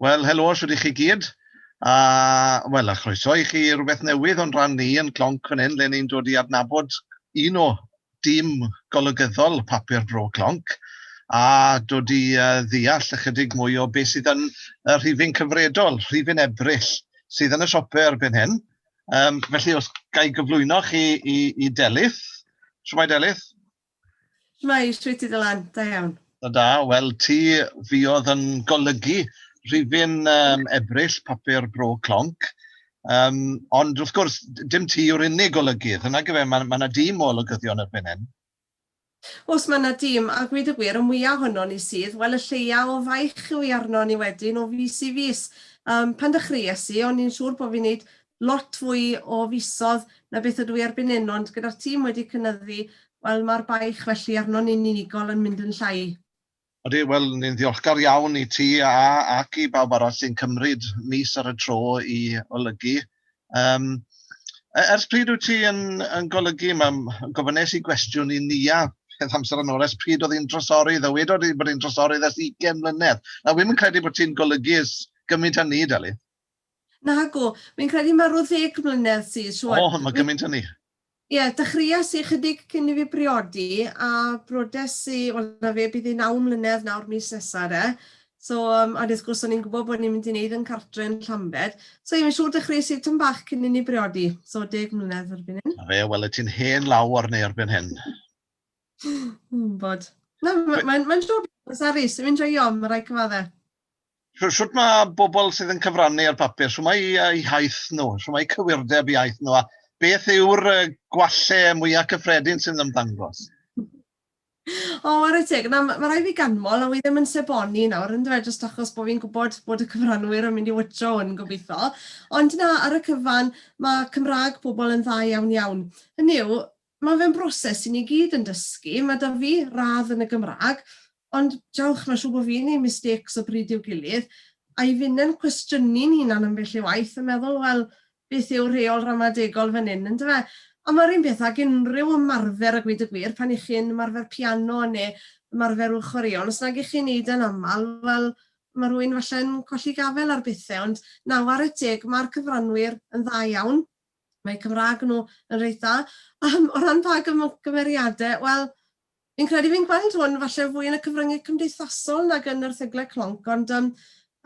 Wel, helo, shwt i chi gyd. A, wel, a chroeso i chi rhywbeth newydd o'n rhan ni yn Clonc fan hyn, le ni'n dod i adnabod un o dîm golygyddol papur Bro Clonc, a dod i uh, ddeall ychydig mwy o beth sydd yn y rhifyn cyfredol, rhifyn ebryll, sydd yn y siopau erbyn hyn. Um, felly, os gael gyflwyno chi i, i Delyth, Siwmai Delyth? Shwmae, shwyt ti dy lan? Da iawn. Da, wel ti fuodd yn golygu rhifyn um, ebryll papur bro clonc, um, ond wrth gwrs dim ti yw'r unig golygydd, yna gyfe mae yna ma dîm o olygyddion erbyn hyn. Os mae yna dîm, a gwyd y gwir, y mwyaf honno ni sydd, wel y lleia o faich yw i arno ni wedyn o fus i fus. Um, pan dechreues i, o'n i'n siŵr bod fi'n neud lot fwy o fisodd na beth ydw i erbyn hyn, ond gyda'r tîm wedi cynyddu, wel, mae'r baich felly arnon ni'n unigol yn mynd yn llai. Ydy, wel, ni'n ddiolchgar iawn i ti a ac i bawb arall sy'n cymryd mis ar y tro i olygu. Um, ers pryd wyt ti yn, yn golygu? Mae'n gofynes i gwestiwn i Nia peth amser yn ôl, ers pryd oedd hi'n drosori, ddo wedi bod hi'n drosori ers 20 mlynedd. Na, wy'n credu bod ti'n golygu ys gymaint â ni, Deli. Nagoedd, fi'n credu mae rhyw ddeg mlynedd sydd rŵan. O, mae gymaint hynny? Ie, dechreuais i chydig cyn i fi briodi a brodes i, wel na fe bydd hi naw mlynedd nawr mis nesa de, so yym ond wrth gwrs o'n i'n gwbod bod ni'n mynd i neud yn cartre yn Llambed, so ie fi'n siŵr dechreuais i tym bach cyn i ni briodi, so deg mlynedd erbyn hyn. 'Na fe, wel wyt ti'n hen law ar neu erbyn hyn. Wi'n gwbod. Na, mae'n mae'n job eitha' sarus, fi'n joio, ma' raid cyfadde. shwt mae bobl sydd yn cyfrannu ar bapur, shwt mae iaith nhw, shwt mae cywirdeb iaith nhw, a beth yw'r gwalle mwyaf cyffredin sy'n ymddangos? O, oh, ar y teg. Na, mae rhaid fi ganmol, a wy ddim yn seboni nawr, yn dweud, jyst achos bod fi'n gwybod bod y cyfranwyr yn mynd i wytro hwn, gobeithio. Ond na, ar y cyfan, mae Cymraeg pobl yn dda iawn iawn. Hynny yw, Mae fe'n broses i ni gyd yn dysgu, mae 'da fi radd yn y Gymraeg, ond jawch mae'n siŵr bod fi'n neud mistakes o bryd i'w gilydd, a'i funen cwestiynu'n hunan ambell i waith a meddwl wel beth yw'r rheol ramadegol fan hyn yndyfe? Ond mae'r un peth ag unrhyw ymarfer a gweud y gwir, pan y'ch chi'n ymarfer piano neu ymarfer ryw chwaraeon, os nag y'ch chi'n neud e'n amal, wel mae rhywun falle'n colli gafel ar bethe, ond na, ware teg, mae'r cyfranwyr yn dda iawn, Mae Cymraeg nhw yn reit dda. Yym, o ran pa gym- gymeriadau, wel, fi'n credu fi'n gweld hwn falle fwy yn y cyfryngau cymdeithasol nag yn yr erthyglau clonc, ond yym,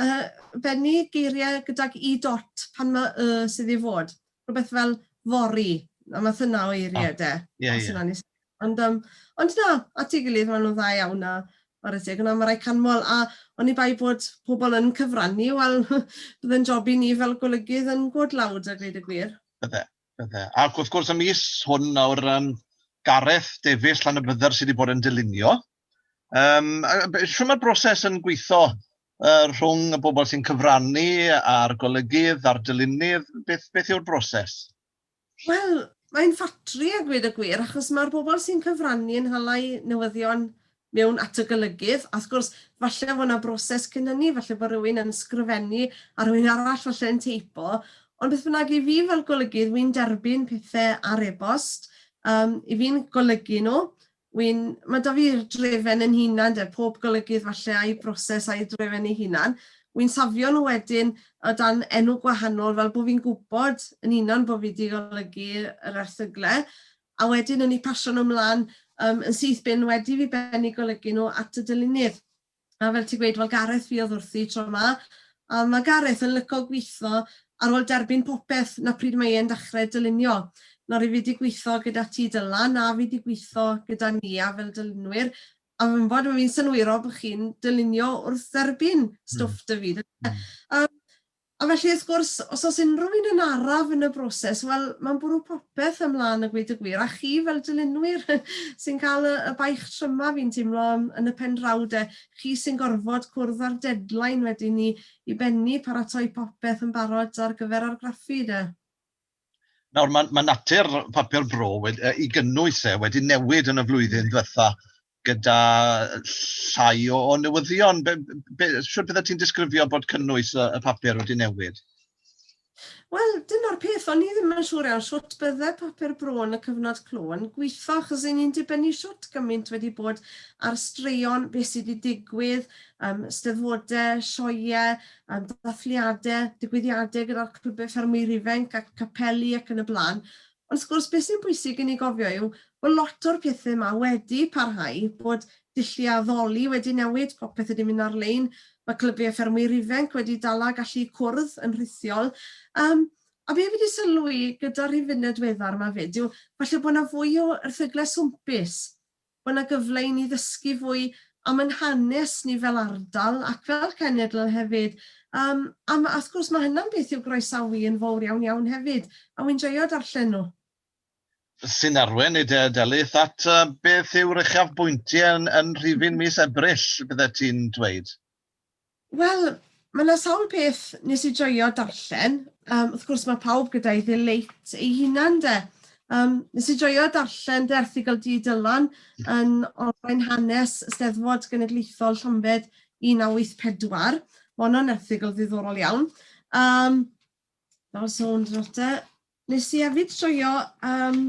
yy, bennu geiriau gydag Y dot pan mae Y sydd i fod. Rhywbeth fel fory, y math yna o eiriau de, os yna'n wneud synnwyr. Ond yym, ond na, at ei gilydd, maen nhw'n dda iawn a chwarae teg, ond mae rai canmol, a oni bai bod pobl yn cyfrannu, wel, byddai'n job i ni fel golygydd yn gwod lawd a gweud y gwir. Bydde, bydde. Ac wrth gwrs y mis hwn nawr, um, Gareth Davies, Llanybydder, sydd wedi bod yn dylunio. Um, Siw mae'r broses yn gweithio uh, rhwng y bobl sy'n cyfrannu a'r golygydd a'r dylunydd? Beth, beth yw'r broses? Wel, mae'n ffatri a gweud y gwir, achos ma'r bobl sy'n cyfrannu yn hala 'u newyddion mewn at y golygydd, a wrth gwrs, falle fod 'na broses cyn hynny, falle bod rhywun yn sgrifennu a rhywun arall falle yn teipo, ond beth bynnag, i fi fel golygydd, wi'n derbyn pethe ar e-bost, yym, 'yf fi'n golygu nhw, Wi'n, ma' 'da fi'r drefen yn hunan 'de, pob golygydd falle a'i broses a'i drefen ei hunan. Wi'n safio nhw wedyn o dan enw gwahanol fel bo' fi'n gwbod yn hunan bo' fi 'di golygu yr erthygle, a wedyn yn eu pasio nhw mlan yym yn syth bin wedi fi bennu golygu nhw at y dylunydd. A fel ti'n gweud, wel Gareth fi oedd wrthi tro 'ma, a ma' Gareth yn lico gwitho ar ôl derbyn popeth, 'na pryd mae e'n dachre dylunio. Nawr i fi 'di gwitho gyda ti Dylan, a fi 'di gwitho gyda Nia fel dylunwyr, a fi'n gwbod ma' fi'n synwyrol bo' chi'n dylunio wrth dderbyn stwff 'da fi, yndyfe? Yym, A felly wrth gwrs, os oes unrhyw un yn araf yn y broses, wel, mae'n bwrw popeth yn mlân a gweud y gwir, a chi fel dylunwyr sy'n cael y baich tryma fi'n teimlo yn y pen draw de, chi sy'n gorfod cwrdd â'r deadline wedyn i i bennu, paratoi popeth yn barod ar gyfer argraffu de. Nawr, mae natur papur bro wedi, i gynnwys e, wedi newid yn y flwyddyn ddiwetha', gyda llai o, o newyddion. Be, be, sut bydde ti'n disgrifio bod cynnwys y, y papur wedi newid? Wel, dyna'r peth, o'n i ddim yn siŵr iawn sut bydde papur bro yn y cyfnod clo yn gweithio, achos yn ni'n dibynnu sut gymaint wedi bod ar straeon, beth sydd wedi digwydd, um, steddfodau, sioiau, um, dathliadau, digwyddiadau gyda'r clybau ffermwyr ifanc ac capeli ac yn y blaen. Wrth gwrs, beth sy'n bwysig i ni gofio yw bod lot o'r pethe 'ma wedi parhau, bod dulliau addoli wedi newid, popeth wedi mynd ar-lein, mae clybiau ffermwyr ifanc wedi dala gallu cwrdd yn rhithiol. Yym, a be fi 'di sylwi gyda'r rhifynnau diweddar 'ma 'fyd yw falle bod 'na fwy o erthyglau swmpus Mae yna gyfle i ni ddysgu fwy am ein hanes ni fel ardal ac fel cenedl hefyd. Yym, a ma', wrth gwrs, ma' hynna'n beth i'w groesawu yn fowr iawn, iawn hefyd, a wi'n joio darllen nhw. Sy'n arwain i dy delyth at beth yw'r uchafbwyntiau yn rhifyn mis Ebrill, byddet ti'n dweud? Wel, ma' 'na sawl peth nes i joio darllen, yym wrth gwrs ma' pawb gyda'i ddileit ei hunan 'de, yym nes i joio darllen dy erthygl di Dylan yn olrhain hanes y Steddfod Genedlaethol Llambed 1984, ma' honno'n erthygl ddiddorol iawn, yym fel sôn drodd te, Nes i efyd joio yym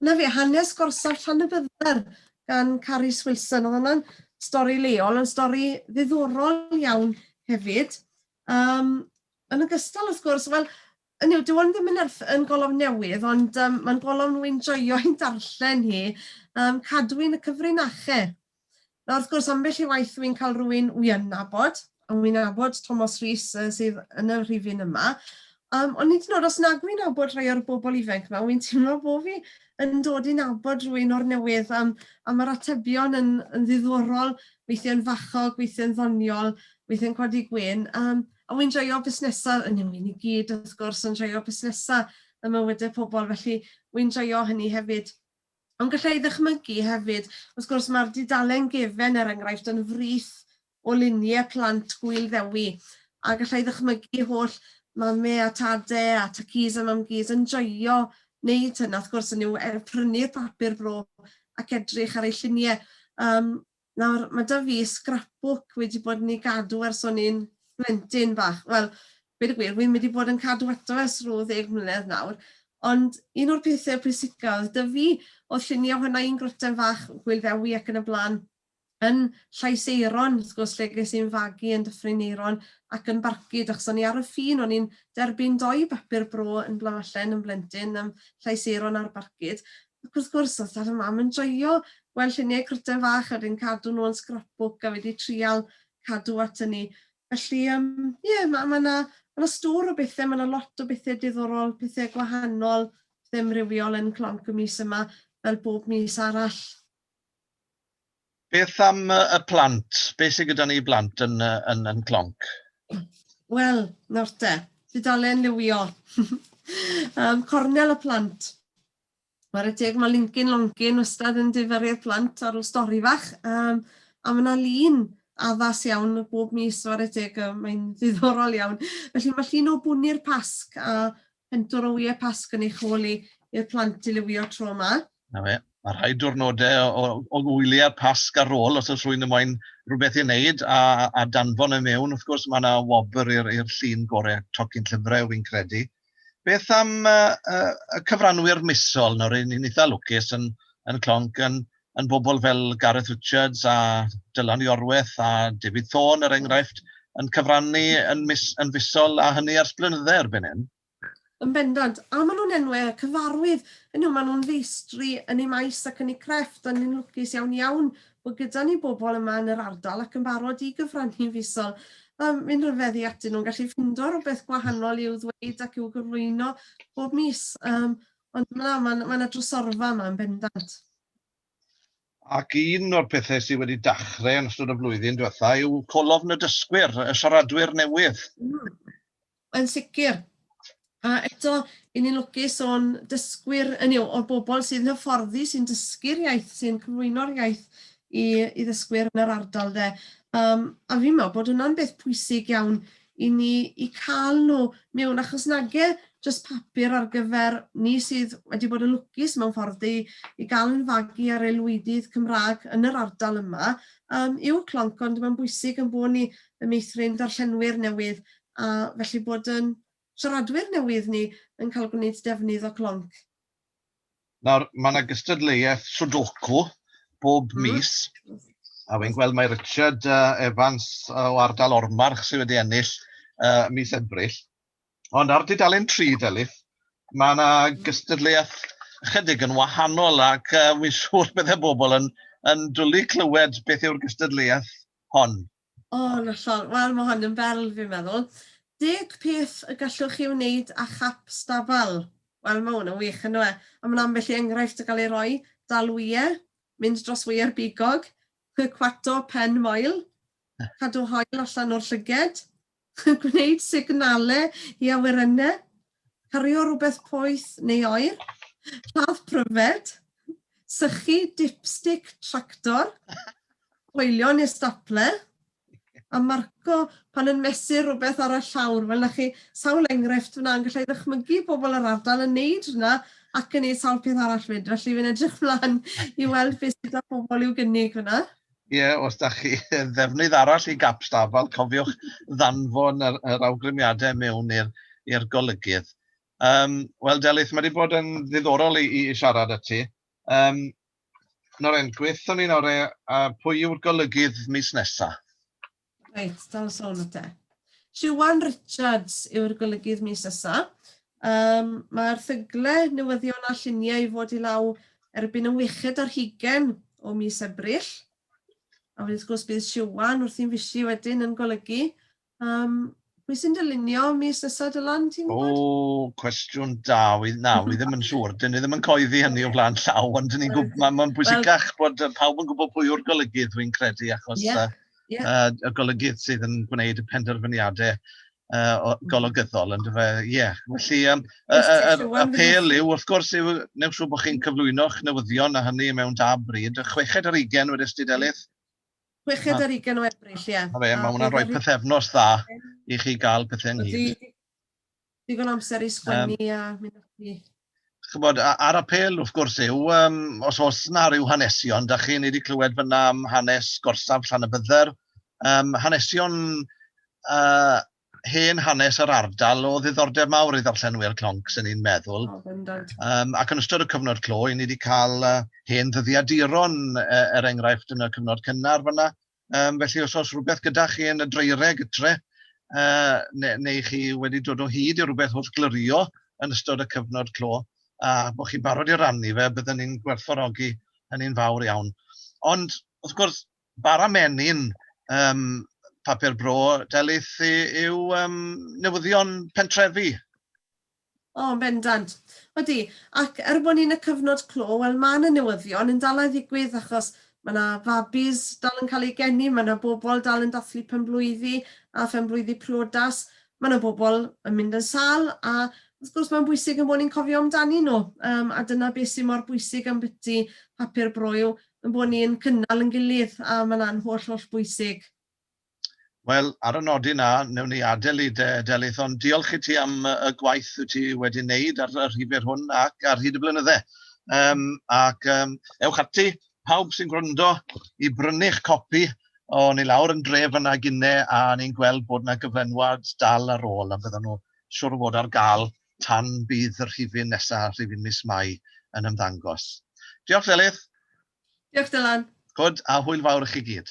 'na fe hanes gorsaf Llanybydder gan Carys Wilson o'dd wnna'n stori leol yn stori ddiddorol iawn hefyd yym yn ogystal wrth gwrs wel hynny yw dyw 'wn ddim yn erth- yn golofn newydd ond yym ma'n golofn wi'n joio hi'n darllen hi yym Cadwyn y Cyfrinache. Nawr wrth gwrs ambell i waith wi'n cael rhywun wi'n nabod, a wi'n nabod Tomos Rhys sydd yn y rhifyn yma, um, ond nid yn oed os nag wi'n nabod rhai o'r bobl ifanc yma, wi'n teimlo bod fi yn dod i nabod rhywun o'r newydd um, a mae'r atebion yn, yn ddiddorol, weithiau'n fachog, weithiau'n ddoniol, weithiau'n codi gwyn. Um, a wy'n joio busnesau, yn ymwneud i gyd wrth gwrs yn joio busnesau ym mywydau pobl, felly wy'n joio hynny hefyd. Ond galla i ddychmygu hefyd, wrth gwrs, mae'r dudalen gefen, er enghraifft, yn frith o luniau plant Gŵyl Ddewi, a galla i ddychmygu holl Mame a Tade a Tacîs a Mamgîs yn joio wneud hyn, a wrth gwrs, hynny yw, prynu'r papur bro ac edrych ar eu lluniau. Yym. Nawr, mae 'da fi scrapbook wedi bod yn ei gadw ers o'n i'n blentyn bach. Wel, gweud y gwir, wi wedi bod yn cadw ato ers rhyw ddeg mlynedd nawr, ond un o'r pethe pwysica oedd 'da fi oedd llunie ohona i'n gwryten fach, Gwyl Ddewi ac yn y bla'n, yn Llais Euron, wrth gwrs, lle ges i'n fagu yn Dyffryn Euron ac yn Barcud, achos o'n i ar y ffin, o'n i'n derbyn dou bapur bro yn Blanallen yn blentyn am Llais Euron ar Barcud, Ac wrth gwrs, os nad yw mam yn joio gweld lluniau cwrten fach a wedyn cadw nhw yn scrapbook a wedi trial cadw at hynny. Felly yym ie, ma' ma' 'na ma' 'na stôr o bethe, ma' 'na lot o bethe diddorol, pethe gwahanol, pethe amrywiol yn Clonc y mis yma, fel bob mis arall. Beth am y y plant? Beth sydd gyda ni i blant yn yy yn yn Clonc? Wel, nawr te, tudalen liwio. Yym, cornel y plant. Ware teg mae Linkin Lonkin wastad yn difaru'r plant ar ôl stori fach um, a mae yna lun addas iawn bob mis ware teg um, mae'n ddiddorol iawn. Felly mae llun o bwni'r pasg a pentwr o wyau pasg yn eich hôl i i'r plant i liwio tro yma. Na fe, mae rhai diwrnodau o, o, o wyliau pasg ar ôl os oes rwy'n ymwain rhywbeth i wneud a, a danfon y e mewn. Wrth gwrs mae yna wobr i'r llun gorau tocyn llyfrau fi'n credu. Beth am uh, uh, y cyfranwyr misol? Nawr, yn ni'n eitha lwcus yn, yn Clonc yn, yn bobl fel Gareth Richards a Dylan Iorweth a David Thorne, er enghraifft, yn cyfrannu yn, mis, yn fusol a hynny ar sblynyddau erbyn hyn. Yn bendant, a maen nhw'n enwau cyfarwydd, yn yw maen nhw'n feistri yn ei maes ac yn ei crefft, a ni'n lwcus iawn iawn Mae gyda ni bobl yma yn yr ardal ac yn barod i gyfrannu'n fisol. Mae mi'n rhyfedd i atyn nhw'n gallu ffindo rhywbeth gwahanol i'w ddweud ac i'w gyflwyno bob mis. Um, ond na, mae yna ma drysorfa yma yn bendant. Ac un o'r pethau sydd wedi dachrau yn ystod y flwyddyn diwetha yw colofn y dysgwyr, y siaradwyr newydd. Mm. Yn sicr. A eto, i ni'n lwcus o'n dysgwyr, hynny yw, o'r bobl sy'n hyfforddi, sy'n dysgu'r iaith, sy'n cyflwyno'r iaith i, i ddysgwyr yn yr ardal de. Um, a fi'n meddwl bod hwnna'n beth pwysig iawn i ni i cael nhw mewn, achos nage jyst papur ar gyfer ni sydd wedi bod yn lwcus mewn ffordd i, i gael yn fagu ar aelwydydd Cymraeg yn yr ardal yma, um, yw clonc, ond mae'n bwysig yn bod ni yn meithrin darllenwyr newydd a felly bod yn siaradwyr newydd ni yn cael gwneud defnydd o Clonc. Nawr, mae yna gystadleuaeth Sudoku bob mis, a fi'n gweld mae Richard Evans o ardal Ormarch sydd wedi ennill uh, mis Ebrill. Ond ar dudalen 3, Delyth, mae yna gystadleuaeth ychydig yn wahanol ac uh, fi'n siŵr byddai bobl yn, yn dwlu clywed beth yw'r gystadleuaeth hon. O, yn hollol. Wel, mae hon yn berl, fi'n meddwl. Deg peth y gallwch chi wneud â chap stabal. Wel, mae hwn yn wych, yn dyw e? A mae'n ambell i enghraifft yn cael ei roi, dal wyau, mynd dros wyau'r bigog, cwato pen moel, cadw hoel allan o'r llyged, Gwneud signalau i awyrennau, cario rhywbeth poeth neu oer, lladd pryfed, sychu dipstic tractor, coelio neu stapler, a marco pan yn mesur rhywbeth ar y llawr. Wel, 'na chi sawl enghraifft fan'na, ond galla i ddychmygu pobl yr ardal yn wneud hwnna ac yn wneud sawl peth arall 'fyd, felly fi'n edrych mlaen i weld beth sydd 'da pobl i'w gynnig fan'na. Ie, os da chi ddefnydd arall i gap stafall, cofiwch ddanfon yr, yr awgrymiadau mewn i'r golygydd. Um, Wel, Delyth, mae wedi bod yn ddiddorol i, i siarad â ti. Um, Noren, gweithio ni nawr e, a pwy yw'r golygydd mis nesaf? Reit, dal sôn o te. Siwan Richards yw'r golygydd mis ysa. Um, Mae erthygle, newyddion a lluniau i fod i law erbyn y weched ar hugen o mis Ebrill. A wrth gwrs bydd Siwan wrth i'n fisi wedyn yn golygu um, Pwy sy'n dylunio mis nesa Dylan, ti'n gwybod? O, cwestiwn da, wi, na, wi ddim yn siŵr. Dyn ni ddim yn coeddi hynny o flaen llaw, ond dyn ni'n gwybod, mae'n ma bwysicach well, bod pawb yn gwybod pwy yw'r golygydd, dwi'n credu, achos yeah, uh, yeah. Uh, y golygydd sydd yn gwneud y penderfyniadau uh, golygyddol, yn dyfa, ie. Yeah. Felly, um, y, y, y, y pel yw, wrth gwrs, yw, newch siw bod chi'n cyflwyno'ch newyddion a hynny mewn da bryd, y chweched ar ugen wedi ystudelydd, Chweched ar ugen o Ebrill, ie. Mae ma hwnna'n rhoi pethefnos dda i chi gael pethau'n hyd. Digon amser i sgwennu um, a mynd ati. Chybod, a'r apel, wrth gwrs, yw, um, os oes yna rhyw hanesion, da chi, ni wedi clywed fyna am hanes gorsaf llan y bydder, um, hanesion uh, hen hanes yr ardal o ddiddordeb mawr i ddarllenwyr clonc, sy'n ni'n meddwl. Oh, bendant. Um, ac yn ystod y cyfnod clo, i ni wedi cael uh, hen ddyddiaduron, uh, er enghraifft yn y cyfnod cynnar fyna. Um, felly os oes rhywbeth gyda chi yn y dreireg tre, uh, neu, neu chi wedi dod o hyd i rhywbeth wrth glyrio yn ystod y cyfnod clo, a bod chi'n barod i rannu fe, byddwn ni'n gwerthfawrogi hynny'n fawr iawn. Ond, wrth gwrs, Bara menyn ym Papur Bro Delyth yw yym newyddion pentrefi. O, yn bendant. Odi, ac er bod ni yn y cyfnod clo, wel ma' 'na newyddion yn dal a ddigwydd achos ma' 'na fabis dal yn cael eu geni, ma' 'na bobl dal yn dathlu penblwyddi a phenblwyddi priodas, ma' 'na bobl yn mynd yn sâl a wrth gwrs mae'n bwysig ein bod ni'n cofio amdanyn nhw. Yym a dyna beth sy' mor bwysig ambyti Papur Bro yw Ein bod ni yn cynnal yn gilydd, a mae yna'n holl, holl bwysig. Wel, ar y nodyn 'na, newn ni adael i de, Delyth, ond diolch i ti am y gwaith wyt ti wedi wneud ar y rhifr hwn ac ar hyd y blynydde. Um, ac um, ewch ati, pawb sy'n gwrando, i brynu'ch copi o ni lawr yn dref yna gynne a ni'n gweld bod yna gyflenwad dal ar ôl a byddan nhw siwr o fod ar gael tan bydd y rhifyn nesa, rhifyn mis Mai, yn ymddangos. Diolch Delyth. Diolch Dylan. Good, a hwyl fawr i chi gyd.